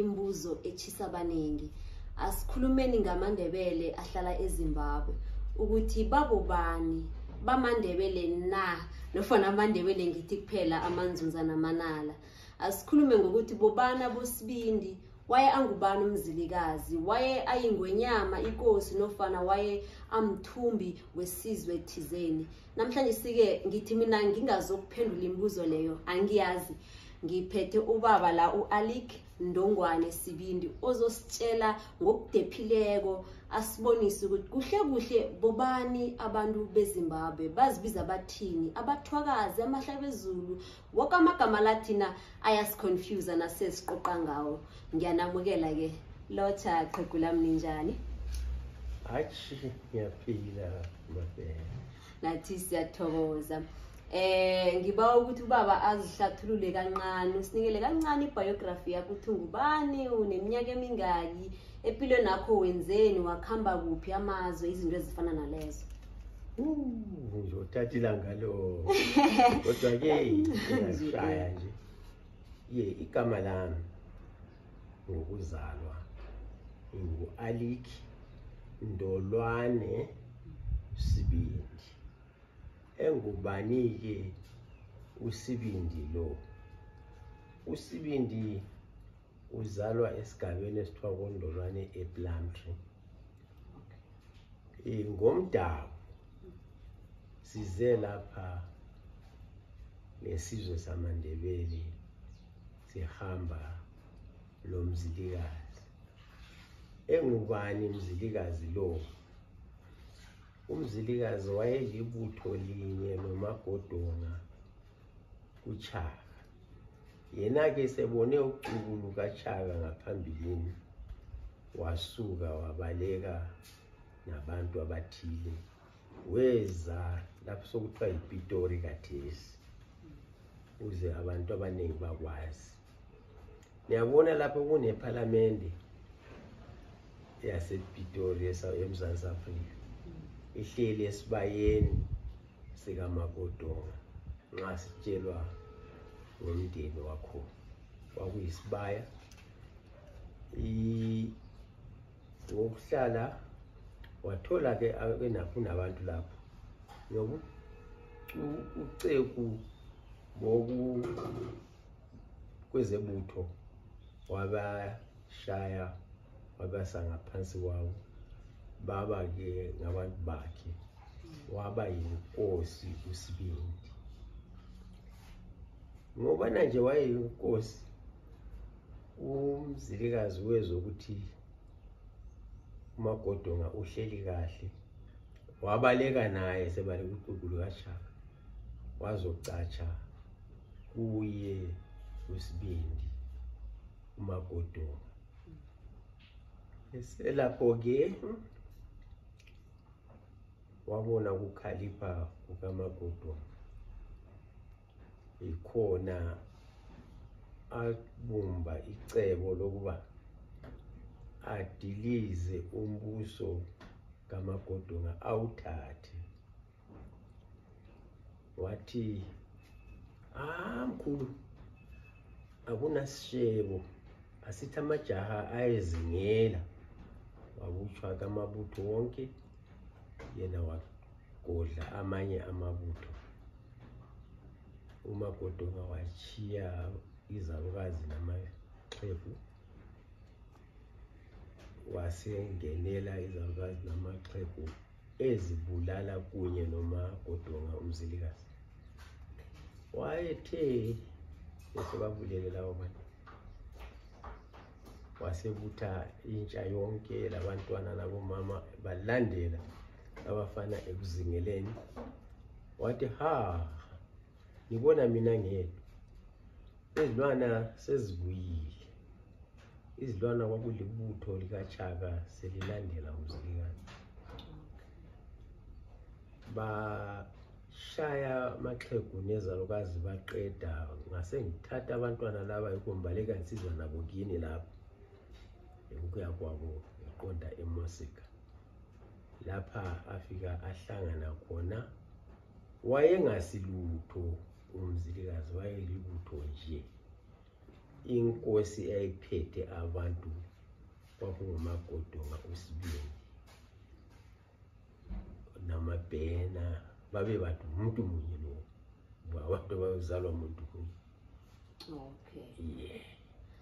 imbuzo echisa abaningi asikhulumeni ngamandebele ahlala ezimbabwe ukuthi babo bani bamandebele na nofana amandebele ngithi kuphela amanzunza namanala asikhulume ngokuthi bobana bosibindi waye angubani umzilikazi waye ayingwenyama inkosi nofana waye amthumbi wesizwe thizeni namhlanje sike ngithi mina ngingazokuphendula imibuzo leyo angiyazi ngiphethe ubaba la u-alik ndongwane sibindi ozositshela ngokudephileko asibonise ukuthi kuhle kuhle bobani abantu bezimbabwe bazibiza abathini abathwakazi amahlabezulu Woke amagama lathina ayasiconfusa nasesiqoqa ngawo. Ngiyanamukela ke. Lotsha qhegu lami ninjani? Hayi ngiyaphila mabheka. Nathi siyathokoza. Eh ngiba ukuthi ubaba azihlathulule kancane, usinikele kancane ibiography yakho ukuthi ungubani, uneminyaka emingaki. empilweni yakho wenzeni wakuhamba kuphi amazwe izinto ezifana nalezo nje uthatha ilanga lo kodwa-ke ngashaya nje ye igama lami ngokuzalwa ngu-alik ndolwane sibindi engubani-ke usibindi lo usibindi uzalwa esigabeni esithiwa kondolwane eplumtree eh, ngomdawu size lapha ngesizwe samandebele sihamba lo mzilikazi engubani mzilikazi lo umzilikazi wayelibutho linye lomagodonga kuchaka yena-ke sebone uxuku lukachaka ngaphambilini wasuka wabaleka nabantu abathile weza lapho sokuthiwa yipitori kathesi uze abantu abaningi bakwazi niyabona lapho kunephalamende yasepitori emzantsi afrika ihleli esibayeni sikaMakodonga nxa sitshelwa ngomndeni wakho kwakuyisibaya ngokuhlala wathola ke abenakho nabantu lapho yoku uceku boku kwezebutho waba shaya wabasa ngaphansi kwawo baba-ke ngabantu bakhe waba yinkosi usibindi ngobana nje wayeyinkosi umzilikazi wezwa ukuthi umagodonga uhleli kahle wabaleka naye sebaleka uqulu lukashaka wazocatsha kuye usibindi umagodunga eselapho-ke wabona ukukhalipha kukamagodunga yikhona abumba icebo lokuba adilize umbuso kamagodunga awuthathe wathi ah mkhulu akunasishebo asithi amajaha ayezingela wakuthwa kamabutho wonke yena wagodla amanye amabutho umagodonga wachiya izalukazi namaxhegu wasengenela izalukazi namaxhegu ezibulala kunye nomagodonga umzilikazi wayethe esebabulele lawo bantu wasebutha intsha yonke labantwana labomama balandela abafana ekuzingeleni wathi ha ngibona mina ngedwa izilwana sezibuyile izilwana kwakulibutho likachaka selilandela umzilikazi bashaya amaxhegu nezalukazi baqeda ngase ngithatha abantwana laba yikho ngibaleka nsizwa nabo kini lapho ukuya kwabo ngiqonda emosika lapha afika ahlangana khona wayengasilutho umzilikazi wayelibutho nje inkosi eyayiphethe abantu kwakungumagodonga usibindi namabhena babe bantu umuntu munye lo abantu bayozalwa muntu munye okay yeah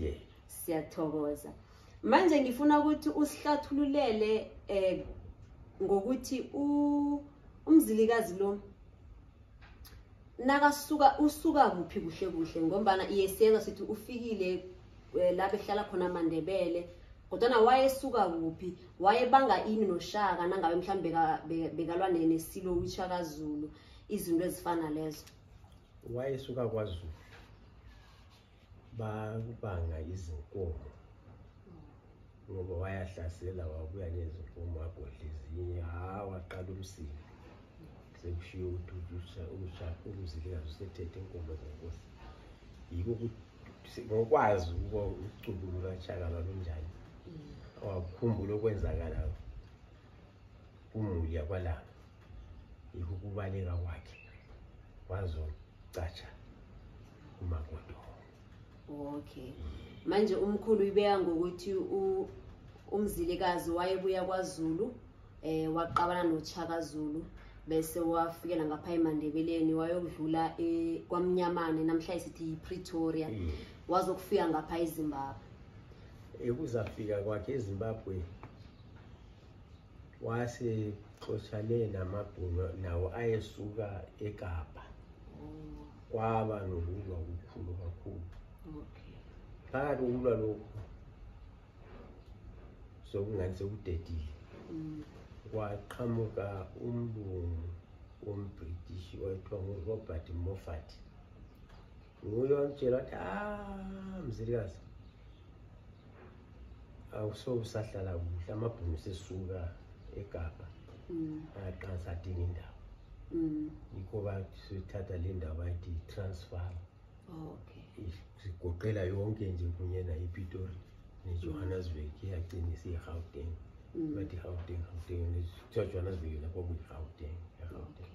yeah siyathokoza manje ngifuna ukuthi usihlathululele eh ngokuthi umzilikazi lo nakasuka usuka kuphi kuhle kuhle ngombana iyesiyezwa sithi ufikile eh, la behlala khona amandebele kodwana wayesuka kuphi wayebanga ini noshaka nangabe mhlawumbe bekalwa nesilo wishakazulu izinto ezifana lezo wayesuka kwazulu bakubanga izinkomo ngoba wayahlasela wabuya nezinkomo wagodla ezinye ha waqala umsili sekushiye ukuthi umzilikazi usethethe inkomo zenkosi yiko ukuthi ngokwazi ukuba ucubulo lwashaka lwalunjani wakukhumbula okwenzakala kumuli yakwalanga yikukubaleka kwakhe wazocatsha umakoti okay manje umkhulu uyibeka ngokuthi umzilikazi wayebuya kwazulu eh waqabana nochaka zulu bese wafikela ngapha emandebeleni wayokudlula e, kwamnyamane namhlanje sithi yipretoria mm. wazokufika ngapha ezimbabwe ekuzafika kwakhe ezimbabwe wase xoshane namabhunu nawo ayesuka ekapa oh. kwaba nokulwa kukhulu kakhulu phakathi kokulwa lokhu sokungathi sekudedile mm. kwaqhamuka umlungu wombritish wayethiwa ngurobert moffat nguye wangitshela wathi a ah, mzilikazi awusobe usahlala kuhle amabhunu sesuka egabha mm. aqansa adinga indawo mm. yikho bathatha le ndawo bayithi yi-transfer sigoqela yonke nje kunye nayipitori nejohannesburg iyagcina isiyi-gauteng mm. bathi i-gauteng gauteng kuthiwa johannesburg yona kwakuyi-gauteng egauteng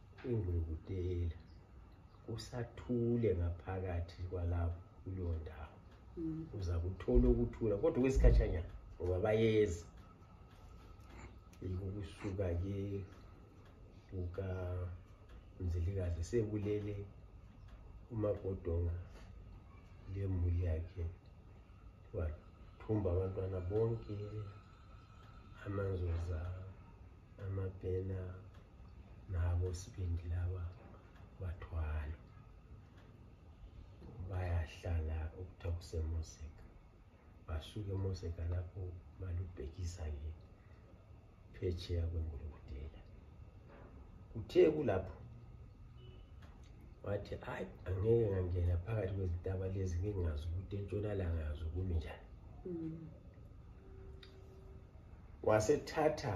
ingwengudela kusathule ngaphakathi kwalapho kuleyo ndawo mm. uza kuthola ukuthula kodwa kwesikhatshanyana ngoba bayeza ukusuka ke kuka mzilikazi sekulele umagodonga lemuli yakhe wathumba abantwana bonke amanzoza amabhena nabo sibindi laba bathwala bayahlala okuthiwa kusemoseka basuke emoseka lapho balubhekisa ke phetsheya kwengulukudela kuthe kulapho wathi hayi angeke ngangena phakathi kwezintaba lezi ngingazi ukuthi entshonalanga yazo kumi njani mm. wasethatha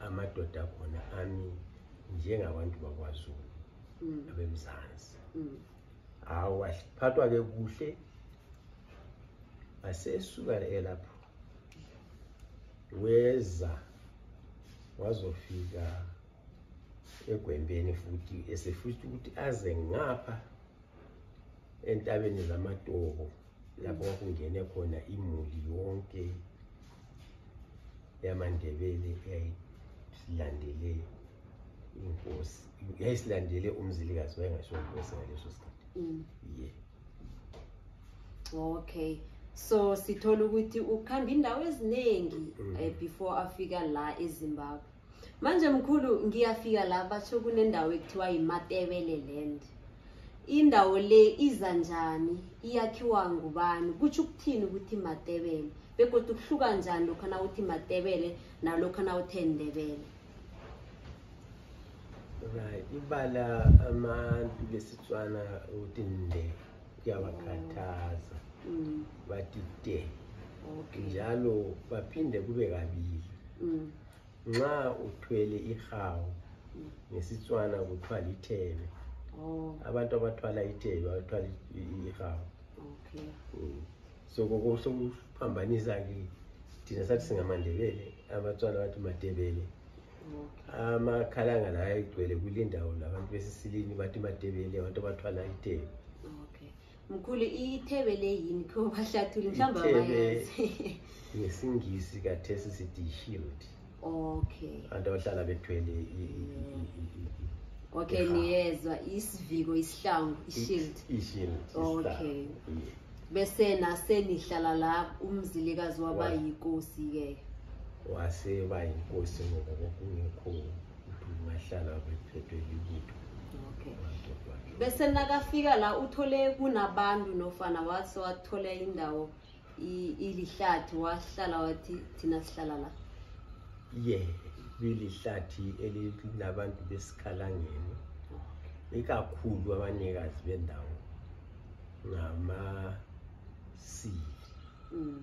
amadoda akhona ami njengabantu bakwazulu mm. abemzansi mm. hawu aphathwa-ke kuhle asesuka elapho weza wazofika egwembeni futhi esefisa ukuthi aze ngapha entabeni zamatobo lapho kwakungene khona imuli yonke yamandebele eyayilandele inkosi yayisilandele umzilikazi wayengasho inkosi ngaleso sikhathi mm. ye okay so sithola ukuthi ukuhamba indawo eziningi mm. eh, before afika la ezimbabwe manje mkhulu ngiyafika la basho kunendawo ekuthiwa yimatebele land indawo le iza njani iyakhiwa ngubani kutsho ukuthini ukuthi matebele begodwa ukuhluka njani lokhu na uthi matebele nalokhu na uthe ndebele right ibala abantu lesitswana ukuthi nde kuyabakhathaza mm. bathi de njalo baphinde kube kabili mm. nxa uthwele ihawu ngesitswana kuthiwa lithebe oh. abantu abathwala ithebe abathwala ihawu okay. mm. so kokosokuhambhanisa ke thina sathi singamandebele abatswana bathi madebele amakhalanga la ayigcwele kule ndawo labantu besisilini bathi madebele abantu abathwala idebe mkhulu ithebe le yini kho bahlathuli mhlawumbe abayazi ngesingisi kathesi sithi shield okay abantu abahlala bethwele okay niyezwa isiviko isihlangu ishield ishield okay bese nasenihlala la umzilikazi wabayinkosi ke wase bayinkosi ngoba kungekho bese nakafika la uthole kunabantu nofana wase wathola indawo ilihlathi wahlala wathi thina sihlala la ye bilihlathi elinabantu besikhalangeni ikakhulu abanikazi bendawo ngamasili mm.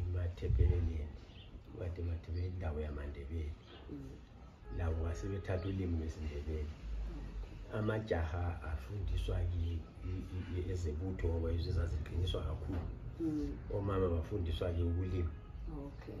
imathebeleleni kade mathebele indawo yamandebele mm. labo base bethatha ulimi lwesindebele amajaha afundiswa ezebutho ngoba yizo ezaziqiniswa kakhulu mm. omama bafundiswa-ke ukulima okay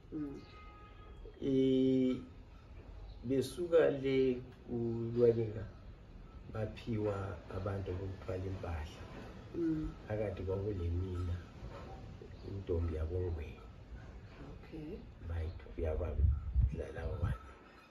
Eh besuka le kulwaninga baphiwa abantu bokuthwala impahla mm. phakathi kwakulemina intombi yabongweni okay bayithu yababa lalawo bantu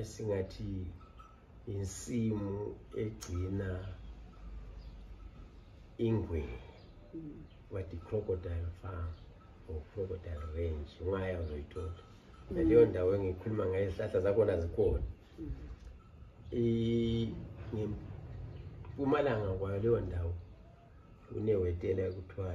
esingathi insimu egcina ingwenya but i-crocodile farm or crocodile range ungaya uzoyithola naleyo mm. ndawo engikhuluma ngayo izihlahla zakhona zikhona ngempumalanga kwayo leyo ndawo kunewetela kuthiwa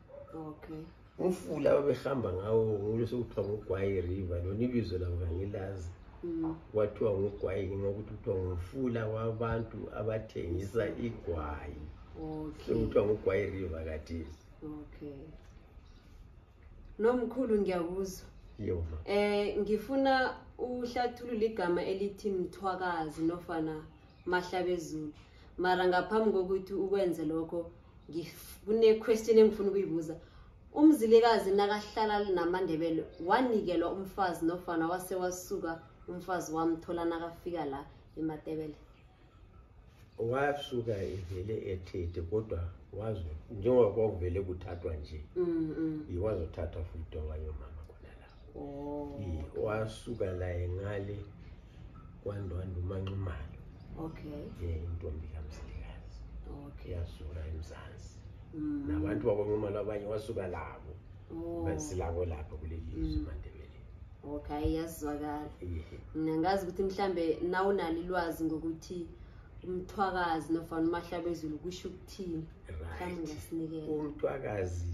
okay umfula ababehamba ngawo ngulo sekuthiwa ngugwayi river lona ibizo labo kangilazi mm. kwathiwa ngugwayi ngenxa ukuthi kuthiwa ngumfula wabantu abathengisa igwayi sekuthiwa ngugwayi river katisi okay nomkhulu ngiyakuzwa yoma eh ngifuna uhlathulula igama elithi mthwakazi nofana mahlabezulu mara ngaphambi kokuthi ukwenze lokho kune-question engifuna ukuyibuza umzilikazi nakahlala namandebele wanikelwa umfazi nofana wase wasuka umfazi wamthola nakafika la ematebele wasuka evele ethethe kodwa wazi njengoba kwakuvele kuthathwa nje mm, mm. iwazothathwa futhi owayo mama khona la oh. wasuka la engale kwandwanda umanxumalo okay yeah intombi kamsilikazi okay yasuka emzansi mm. nabantu bakwanxumalo abanye wasuka labo oh. basilabo lapha kuleli lizwe mm. manje okay iyazwakala mina ngazi ukuthi mhlambe nawe unalo ilwazi ngokuthi umthwakazi nofana umahlabezulu kusho ukuthini mhlawumbe ungasinikela umthwakazi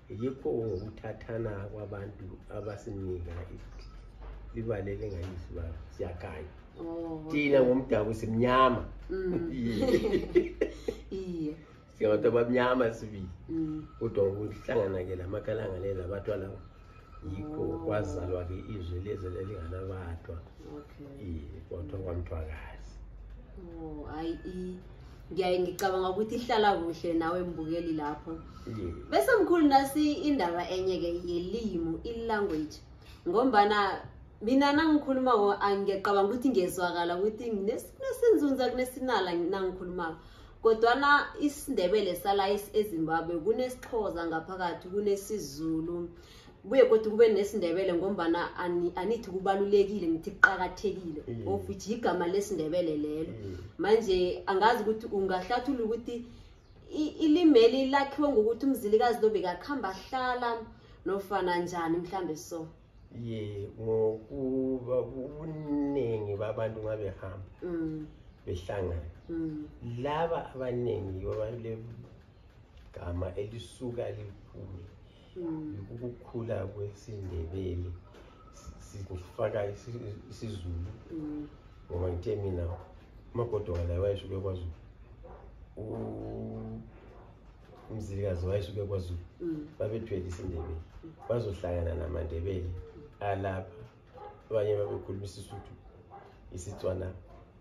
yikho ngokuthathana kwabantu abasinika libalele ngayisi baba siyakhanya oh, thina ngomdabu simnyama mm. iye singabantu abamnyama sibili mm. kodwa ngokuhlangana-ke la makhalanga le labathwa lawo yikho oh. kwazalwa-ke izwi lezi lelinganabathwa iye kwathwa kwamthwakazi oh, ngiyaye ngicabanga ukuthi ihlala kuhle nawe mbukeli lapho bese mkhulu nasi indaba enye-ke yelimu i-language ngombana mina nangikhulumako angiyacabanga ukuthi ngiyezwakala ukuthi nginesinzunza kunesinala nangikhulumako kodwana isindebele sala ezimbabwe kunesixhoza ngaphakathi kunesizulu kubuye kodwa kube nesindebele ngombana anithi kubalulekile ngithi kuqakathekile mm. of which yigama lesindebele lelo mm. manje angazi ukuthi ungahlathula ukuthi ilimeli lakhiwe ngokuthi umzilikazi lo bekakuhamba ahlala nofana njani mhlawumbe so ye ngokuba ubuningi babantu ngabehamba mm. behlangana laba abaningi yibo baleli gama elisuka liphumi ukukhula kwesindebele sikufaka isizulu mm. ngoba ngithe mina umagodoka laye wayeshuke kwazulu umzilikazi wayeshuke kwazulu mm. babethwele isindebele mm. bazohlangana namandebele alapha abanye babekhuluma isisuthu isitswana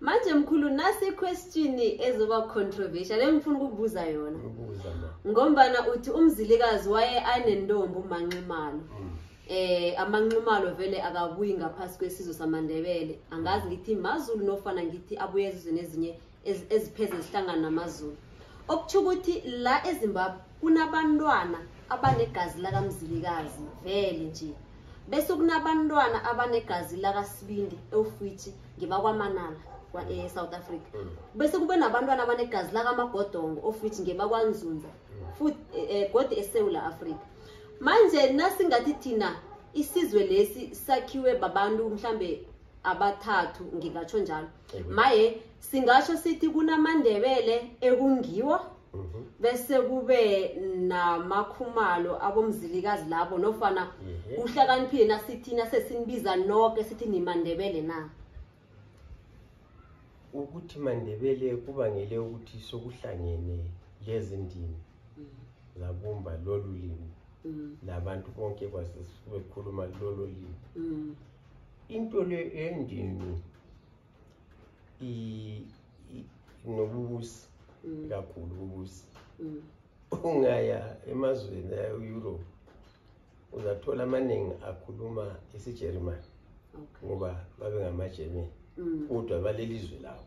manje mkhulu nasi question ezoba controversial engifuna ukubuza yona ngombana uthi umzilikazi waye anentombi umanximalo mm. eh amanximalo vele akabuyi ngaphasi kwesizwe samandebele angazi ngithi mazulu nofana ngithi abuye ezizweni ezinye ezipheze zihlangana namazulu okuthi ukuthi la ezimbabwe kunabantwana abanegazi lakamzilikazi vele nje bese kunabantwana abanegazi lakasibindi ewufithi ngibakwamanala e-south africa mm. bese kube nabantwana abanegazi lakamagodongo ofithi ngebakwanzunza mm. futhi eh, eh, godi esewula afrika manje nasingathi thina isizwe lesi sakhiwe babantu mhlambe abathathu ngingatsho njalo maye singasho sithi kunamandebele ekungiwo Mhm. bese kube namakhumalo abomzilikazi labo nofana Mhm. uhlakaniphile nasithina sesinibiza noke sithi nimandebele na ukuthi mandebele kubangele ukuthi sokuhlangene lezi ndimi zabumba lolu limi Mm, nabantu bonke kwase- bekhuluma lolo limi mm, into le endini nobubusi mm. kakhulu ububusi mm. ungaya emazweni e-europe uzathola amaningi akhuluma isijerimani ngoba babe ngamajermani mm. kodwa baleli zwe lawo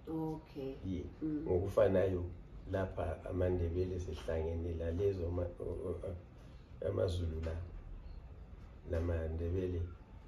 okay ye mm. ngokufanayo lapha amandebele sihlangene la lezo amazulu la namandebele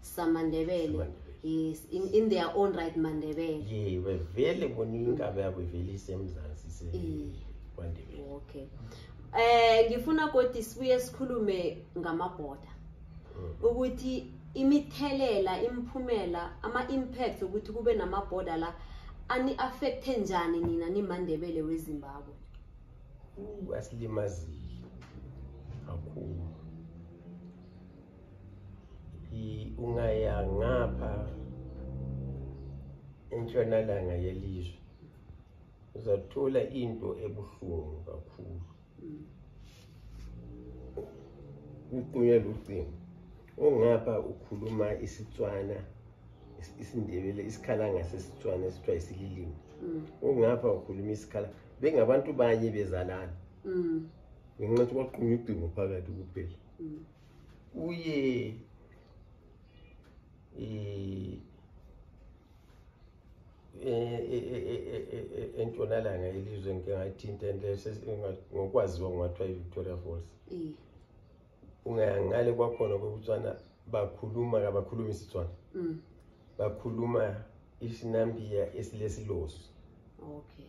samandebele yes in, in their own right mandebele ye bevele bona inkabe yabo ivele isemzansi se kwandebele okay eh ngifuna kodwa sibuye sikhulume ngamaboda mm. ukuthi imithelela imphumela ama impact ukuthi kube namaboda la ani affecte njani nina nimandebele wezimbabwe asilimazile kakhulu ungaya ngapha entshonalanga yelizwe uzathola into ebuhlungu kakhulu uqunywe lucingo ongapha ukhuluma isitswana isindebele isikhala ngasesitswana esithiwa isililimi ongapha mm. ukhuluma isikhala bengabantu banye bezalana mm. ngenxa yokuthi kwaqunywa ucingo phakathi kuphela mm. uye eh, entshonalanga yelizwe ngike ngayithinta ngokwaziwa kungathiwa i-victoria falls ungangale kwakhona kokutswana bakhuluma kabakhulumi isitswana mm. bakhuluma isinambiya esilesilosi okay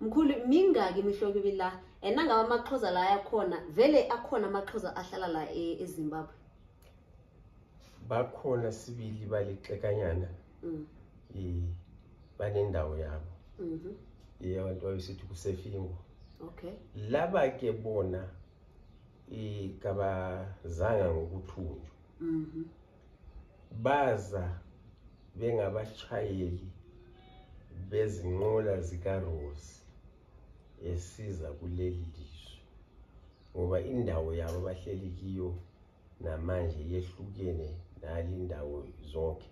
mkhulu mingaki imihlobo ibi la and nangabe amaxhoza la ayakhona vele akhona amaxhoza ahlala la e-, ezimbabwe bakhona sibili balixekanyana mm. banendawo yabo mm-hmm. ye abantu babesithi kusefingo okay laba ke bona ikabazanga ngokuthunjwa mm-hmm. baza bengabashayeli bezinqola zikaRose esiza kuleli lizwe ngoba indawo yabo bahleli kiyo namanje yehlukene nali indawo zonke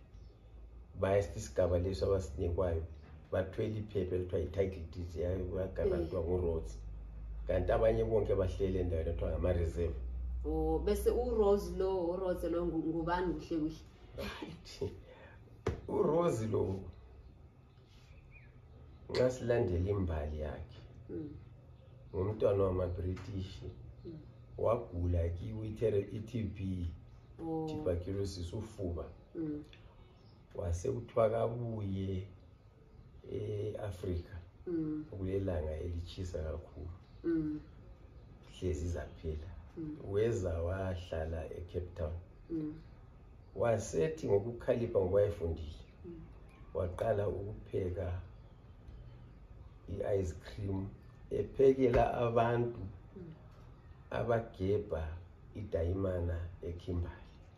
bayasthi isigaba leso abasinikwayo bathwele iphepha elithiwa yi-title deed yagaba kuthiwa eh. uroads kanti abanye bonke bahlele endaweni ekuthiwa ngama-reserve o oh, bese urose lo urose lo ngubani kuhle kuhle urose lo nxa silandela imbali yakhe hmm. ngumntwana wamabritish hmm. wagula kiwi-tb oh. tuberculosis ufuba hmm. wase kuthiwa kabuye e-afrika mm. kulelanga elitshisa kakhulu mm. hlezi zaphela mm. weza wahlala ecape town mm. wasethi ngokukhalipha ngoba efundile mm. waqala ukupheka i-ice cream ephekela abantu mm. abagebha idayimana ekhimbali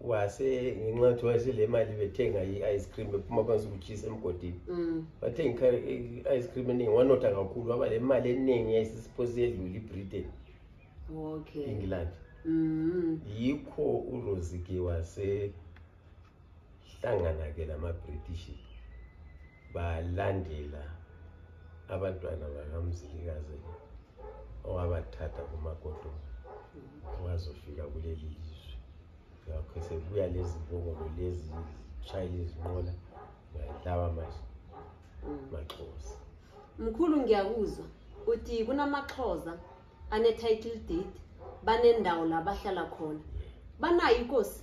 wase ngenxa yokuthi wayesele imali bethenga i-ice cream bephuma kwansi ukuchisa emgodini mm. bathenga i-ice cream eningi wanotha kakhulu waba le mali eningi yayisisiphose yedlula ibritain okay. england mm. yikho urosike wasehlangana-ke namabritish balandela abantwana bakamzilikazi owabathatha kumagodo ongazofika kuleli lizwe ngakho sekubuya lezi mbongolo lezi shayela izinqola lawa manje maxhosa mkhulu ngiyakuzwa uthi kunamaxhosa ane-title deed banendawo la bahlala khona banayo inkosi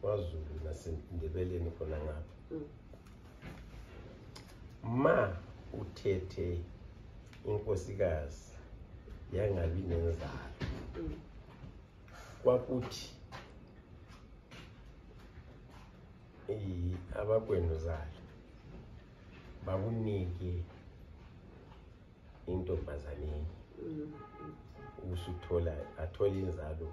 kwazulu nasendebeleni khona ngapha mm. ma uthethe inkosikazi yangabi nenzalo mm. kwakuthi abakwenu zalo bakunike intombazaneni mm. usuthola athole inzalo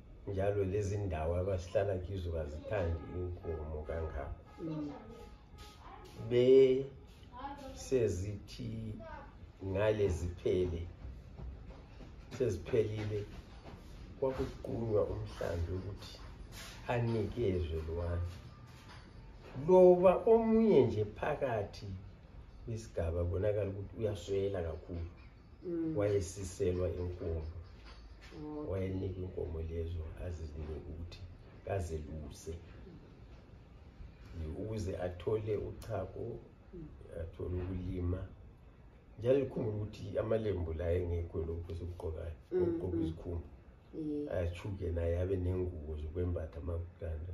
njalo lezi ndawo abasihlala kizo kazithandi inkomo kangako mm. be sezithi ngale ziphele seziphelile kwakuqunywa umhlambi ukuthi anikezwe lwana loba omunye nje phakathi kwisigaba bonakala ukuthi uyaswela kakhulu mm. wayesiselwa inkomo oh. wayenika inkomo lezo azizinike ukuthi kazeluse ukuze athole uchako mm. athole ukulima njalo likhumbula ukuthi amalembu la engekho lokhu esikugqokayo mm, okugqoka izikhumba ayachuke naye abe nengubo zokwembatha amakutanda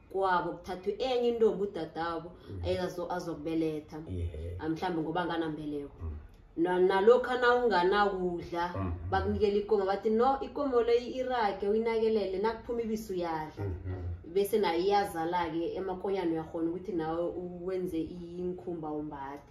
kwabo kuthathwe enye intombi udadabo mm. azokubeletha ah, mhlawumbe ngoba nganambeleko mm. nalokhu nawunganakudla mm. bakunikela ikomo bathi no ikomo leyo irage uyinakelele nakuphuma ibisi uyadla mm-hmm. bese nayo iyazala-ke emakonyana uyakhona ukuthi nawe wenze inkhumba umbathe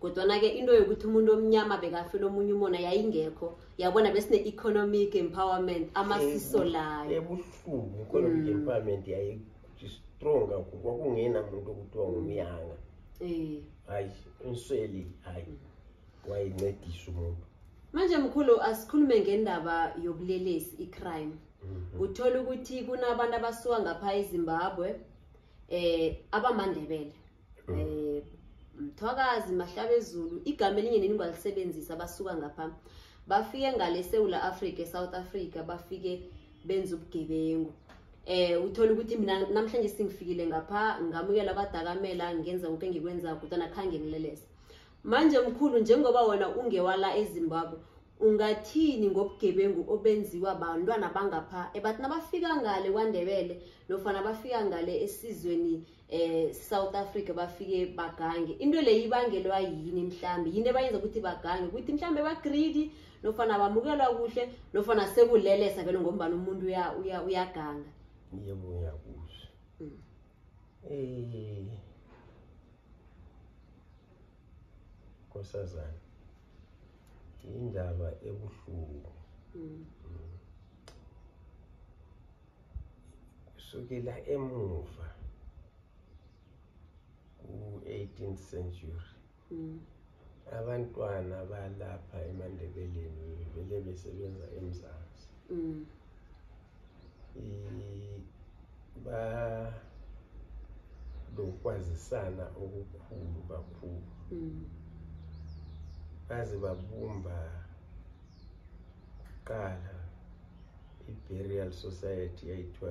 kodwana-ke into yokuthi umuntu omnyama bekafela omunye umona yayingekho yabona besine-economic empowerment amasiso layo ebuhlungu economic mm. empowerment yayistrong kakhulu kwakungena muntu okuthiwa ngumyanga eh. hayi umsweli hayi mm. wayencedisa umuntu manje mkhulu asikhulume ngendaba yobulelesi i-crime mhm. uthole ukuthi kunabantu abasuka ngapha ezimbabwe um abamandebele um eh, mthwakazi mahlabezulu igama elinye nini ngalisebenzisa basuka ngapha bafike ngale sewula africa esouth africa bafike benza ubugebengu eh uthola ukuthi mina namhlanje singifikile ngapha ngamukela abadakamela ngenza konke engikwenzayo kodwa nakhange ngilelese manje mkhulu njengoba wona ungewala ezimbabwe Ungathini ngobugebengu obenziwa bantwana bangapha ebathi eh, nabafika ngale kwaNdebele nofana bafika ngale esizweni eh South Africa bafike bagange into le ibangelwa yini mhlambi yini ebayenza ukuthi bagange ukuthi mhlambe ba greedy nofana bamukelwa kuhle nofana sekulelesa vele ngombana umuntu uya uya uyaganga yebo uyakuhle mm. eh kosazana indaba ebuhlungu mm. mm. kusukela emuva ku-18th century mm. abantwana balapha emandebeleni vele besebenza emzansi mm. banokwazisana okukhulu kakhulu mm. baze babumba kuqala i-burial society yayithiwa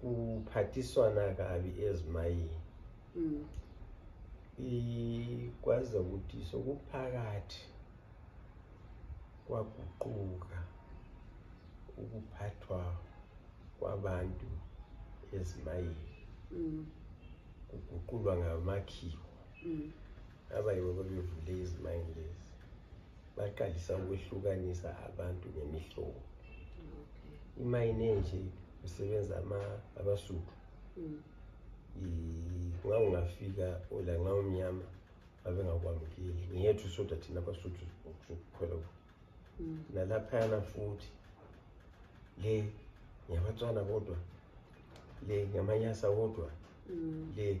kuphathiswana kabi ezimayini mm. ikwaze ukuthi sokuphakathi kwaguquka ukuphathwa kwabantu ezimayini mm. kuguqulwa ngamakhiwo mm. abayibo babevule izimayini lezi baqalisa ukwehlukanisa abantu ngemihlobo imayini enje kusebenza abasuthu mm. ngawungafika ola ngawumnyama babengakwamukeli ngiyethu soda thina abasuthu sokukhwela mm. nalaphayana futhi le ngiyabatswana kodwa le ngamanyasa kodwa mm. le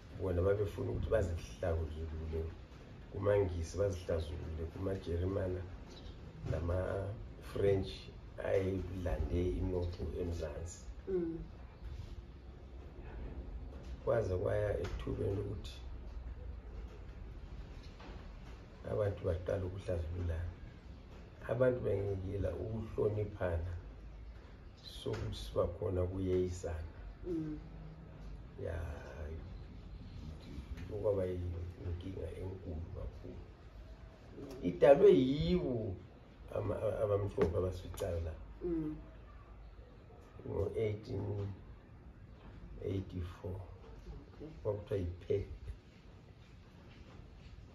bona babefuna ukuthi bazihlakuzulule kumangisi bazihlazulule kumajerimana nama-french ayelande inotho emzansi mm. kwaze kwaya ethubeni lokuthi abantu baqala ukuhlazululana abantu bengiyila ukuhloniphana sokuthi sibakhona kuyeyisana mm. ya okwaba inkinga enkulu kakhulu idalwe yiwo abamhlophe abasificayo la mm. ngo-1884 kwakuthiwa yiphepha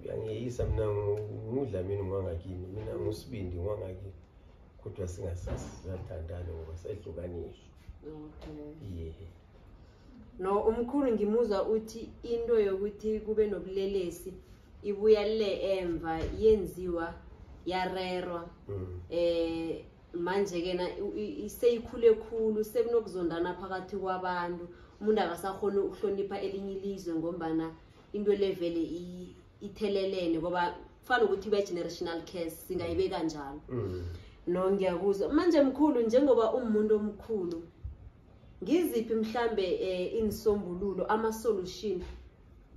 uyangiyeyisa mina ngudlamini ngwangakini mina ngusibindi ngwangakini kodwa singasasathandani ngoba sehlukaniswa okay. no umkhulu ngimuza uthi into yokuthi kube nobulelesi ibuya le emva yenziwa yarerwa mm. eh manje ke na seyikhule khulu sekunokuzondana phakathi kwabantu umuntu akasakhona ukuhlonipha elinye ilizwe ngombana into le vele ithelelene ngoba kufana ukuthi ibe-generational case singayibeka njalo mm. no ngiyakuzwa manje mkhulu njengoba umuntu omkhulu ngiziphi mhlambe um eh, inisombululo ama-solution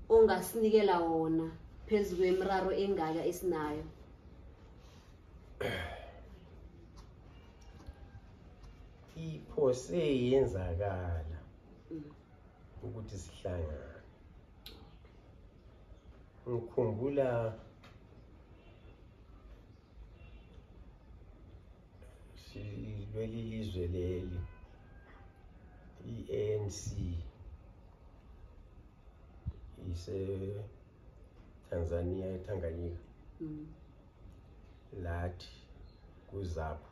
ongasinikela wona phezu kwemiraro engaka esinayo iphose yenzakala ukuthi sihlangane ngikhumbula silweli lizwe leli i-ANC ise Tanzania eTanganyika mm. lathi kuzapho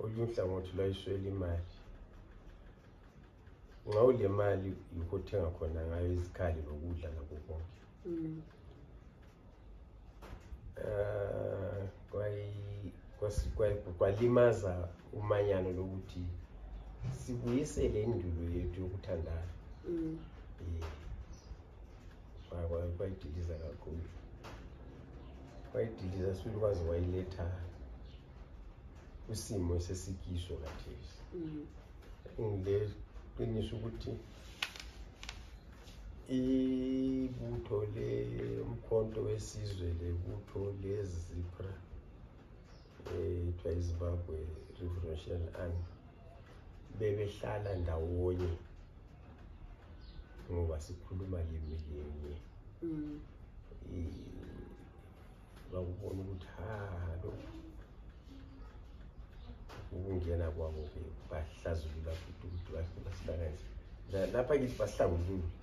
olunye uhlangothi lwayiswela imali ngawo le mali yikho othenga khona ngayo izikhali nokudla nako konke mm. eh, kwalimaza umanyano lokuthi sibuyisele indulo yethu yokuthandana mm. kwayidiliza kakhulu wayidiliza sibili kwaze wayiletha kwisimo esesikiso kathesi mm. ngile qiniso ukuthi ibutho le umkhonto wesizwe lebutho lezipra kuthiwa izimbabwe revolution army bebehlala ndawonye ngoba sikhuluma limi linye mm. bakubona ukuthi ha lo ukungena kwabo-ke bahlazulula futhi ukuthi basibanganise lapha kithi basihlangulule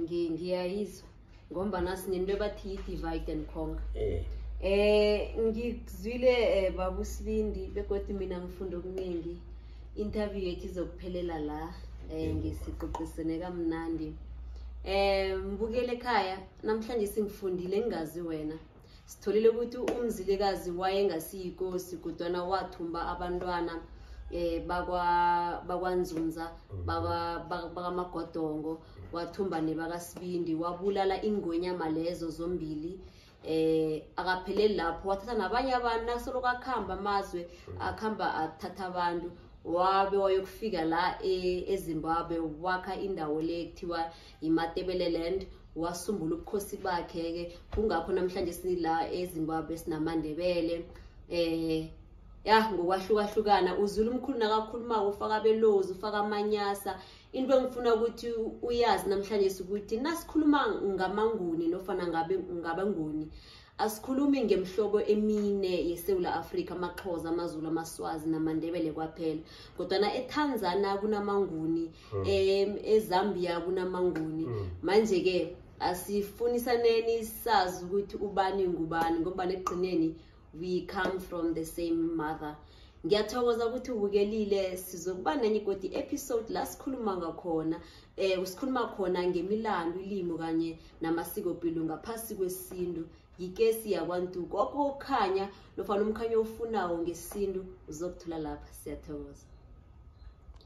ngiyayizwa ngombana sinento ebathi yi-divide and conquer eh. eh ngikuzwile eh, babu sibindi begodwa mina ngifunda okuningi interview yethu izokuphelela la eh ngisiqoqisene kamnandi eh mbukele ekhaya namhlanje singifundile ngingazi wena sitholile ukuthi umzilikazi wayengasiyikosi kodwana wathumba abantwana eh bakwanzunza bakamagodongo wathumba nebakasibindi wabulala ingonyama lezo zombili eh akapheleli lapho wathatha nabanye abantu nasoloko akhamba amazwe akhamba athatha abantu wabe wayokufika la e, ezimbabwe wakha indawo le kuthiwa imatebeleland wasungula ubukhosi bakhe-ke kungakho namhlanje sila ezimbabwe sinamandebele um ya ngokwahlukahlukana uzula umkhulu nakakhuluma-ko ufaka abelozi ufaka amanyasa into engifuna ukuthi uyazi namhlanje ukuthi nasikhuluma ngamanguni nofana ngabenguni Asikhulumi ngemhlobo emine yeSewula Afrika, amaXhosa, amaZulu, amaSwazi namaNdebele kwaphela. Kodwana eTanzania kunamaNguni, hmm. em eZambia kunamaNguni. Hmm. Manje ke asifunisaneni sazi ukuthi ubani ngubani ngoba nekugcineni we come from the same mother. ngiyathokoza ukuthi ubukelile sizokuba nenye igodi episode la sikhuluma ngakhona um sikhuluma khona ngemilando ilimo kanye namasikopilo ngaphasi kwesintu yikesi yakwantu kokho ukukhanya nofana umkhanya ofunawo ngesintu uzokuthola lapha siyathokoza